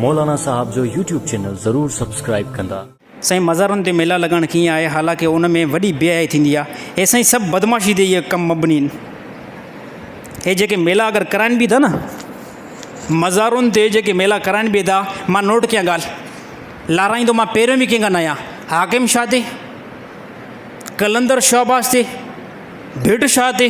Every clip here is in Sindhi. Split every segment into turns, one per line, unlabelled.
مولانا صاحب جو يوٽيوب چينل ضرور سبسڪرائيب ڪندا. سائين مزارن تي
ميلا لڳائڻ ڪيئن آهي حالانڪه ان ۾ وڏي بي حيائي ٿيندي آ هي سائين سڀ بدمعاشي تي اهي ڪم مبني ان هي جيڪي ميلا اگر ڪرائن به ٿا نه مزارن تي جيڪي ميلا ڪرائن به ٿا مان نوٽ ڪيان ڳالهه لارائيندو مان پهريون به ڪنهن کان نه آهيان حاڪم شاهه تي قلندر شهباز تي ڀٽ شاهه تي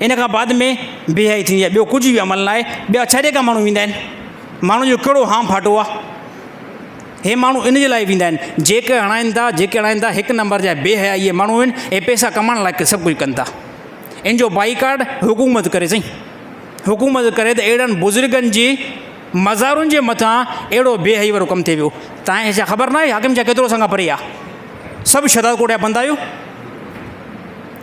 ان کان بعد ۾ بيهائي ٿيندي آهي ٻيو ڪجهه به عمل ناهي ٻيا ڇڏي ڪا ماڻهو ويندا آهن ماڻهو جو ڪهڙو هان ڦاٽو آهي هي ماڻهو ان جي لاء ويندا آهن جيڪي هڻائين ٿا جيڪي هڻائين ٿا هڪ نمبر جا بي حياء اهي ماڻهو آهن هي پيسا ڪمائڻ لاء سڀ ڪجهه ڪن ٿا ان جو بائي ڪارڊ حڪومت ڪري سائين حڪومت ڪري ته اهڙن بزرگن جي مزارن جي مٿان اهڙو بي حياء وارو ڪم ٿي ويو تاهي ڇا خبر ناهي حاڪم شاهه ڪيترو اسان کان پري آهي سڀ شهداد ڪوٽ جا بندا آهيو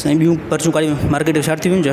سائين ٻيون پرچون ڪاڙيون مارڪيٽ جون شارٽ ٿي ويون ڇا